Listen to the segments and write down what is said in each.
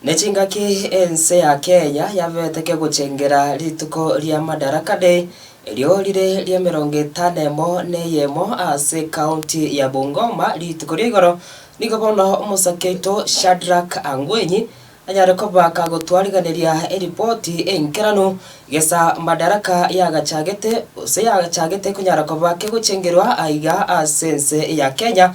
Ne chingaki ense ya Akea yabeteke gochengera rituko ria Madaraka Day, erio rire ri'emerongo etano emo neyemo ase ekaunti ya Bungoma, rituko ria igoro. Nigo bono omosake oito Shadrack Angwenyi anyare kobaka gotwariganeria eripoti enkeranu gesa Madaraka yagachagete gose yachagete konyara koba kegochengerwa aiga ase ense ya Kenya,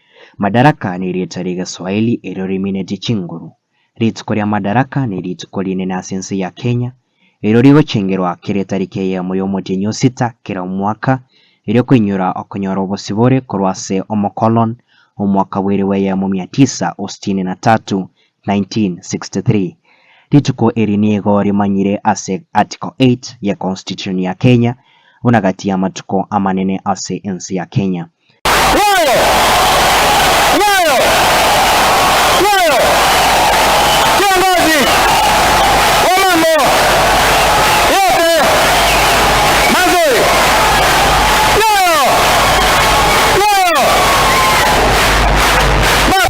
Madaraka nerieta ri'egeswahili erio riminetie chinguru. Rituko ria Madaraka ne rituko rinene ase ense ya Kenya, erio rigochengerwa kera etariki eyemo y'omotienyi o sita kera omwaka, erio koinyora okonyora obosibore korwa ase omokolon omwaka bw'eirwe eyemo mia tisa o sitini na tatu 1963. Rituko eri nigo rimanyire ase Article 8 ye Constitution ya Kenya buna gati y'amatuko amanene ase ense ya Kenya. Nyayo! Nyayo! Nyayo! Kiongozi wa mambo yote mazuri! Nyayo! Nyayo! Baba!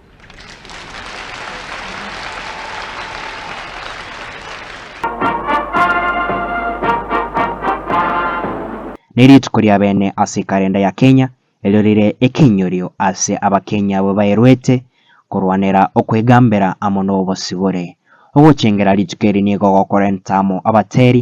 Nerituko ria bene ase ekalenda ya Kenya, erio rire ekenyorio ase Abakenya abwo baeruete korwanera okwegambera amo nobosibore. Ogochengera rituko eri nigo gokorenta amo abateri,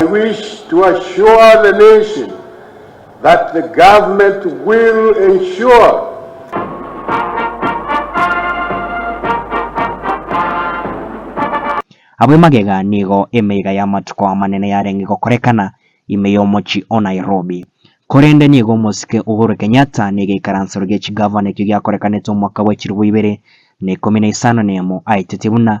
I wish to assure the nation that the government will ensure. Abwo emagega nigo emeiga y'amatuko amanene yarenge gokorekana ime y'omochie o Nairobi. Korende nigo omosike Uhuru Kenyatta negeikaransero gie chigavana ekio giakorekanete omwaka bw'echirobua ibere na ikomi na isano na emo aetete buna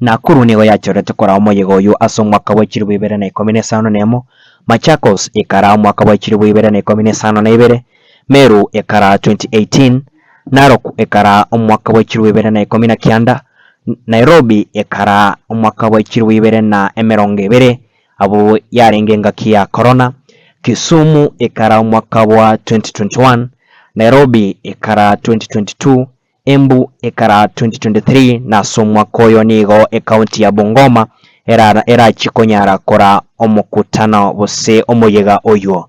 Nakuru nigo yachorete koraa omoyega oyio ase omwaka bwa chilifu ibere na ikomi na isano na emo, Machakos ekaraa omwaka bwa chilifu ibere na ikomi na isano na ibere, Meru ekaraa 2018, Narok ekaraa omwaka bwa chilifu ibere na ikomi na kianda, Nairobi ekaraa omwaka bwa chilifu ibere na emerongo ebere abwo yarenge engaki ya korona, Kisumu ekaraa omwaka bwa 2021, Nairobi ekaraa 2022, Embu ekara 2023 na ase omwaka oyo nigo ecounty ya Bungoma erara erachie konyara kora omokutano gose omoyega oyuo.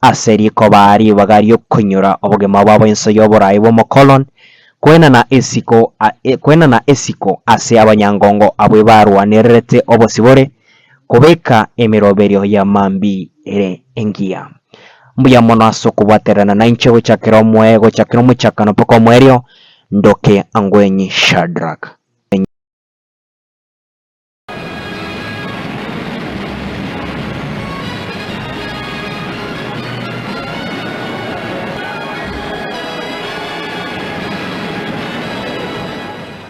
ase rikoba ribaga ri'okonyora obogima bwabo inse y'oboraai bw'omokolon, kwena na isiko a, e, kwena na isiko ase abanyangongo abwo ebarwanererete obosibore, kobeka emeroberio ya mambia ere engiya. Mbuya mono ase okobwatererana nainche gochakera omoe, gochakera omochakano mpaka omoerio, ndoke angwenye Shadrach.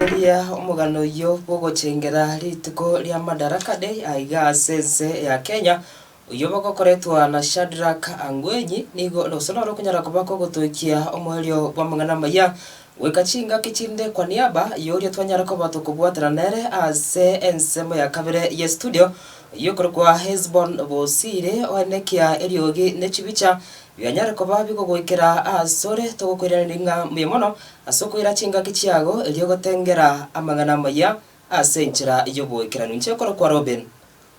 Riria omogano oyio bogochengeraa rituko ria Madaraka Day aiga ase ense ya Kenya, Oyio bagokoretwa na Shadrak angwenyi, nigo ore obosa noro okonyara koba kogotoikia omoerio bw'amang'ana amaya, goika chingaki chinde kwa niaba y'oria twanyare koba tokobwatana nere ase ensemo ya kabere y'estudio, oyio okorokwa Hesbon Bosire, oenekia eriogi ne chibicha bianyare koba bigogoikera asore, togokoiraneria ng'a mbuya mono ase okoira chingaki chiago erio ogotengera amang'ana amaya ase enchera y'oboikeranu. Inche okorokwa Robin.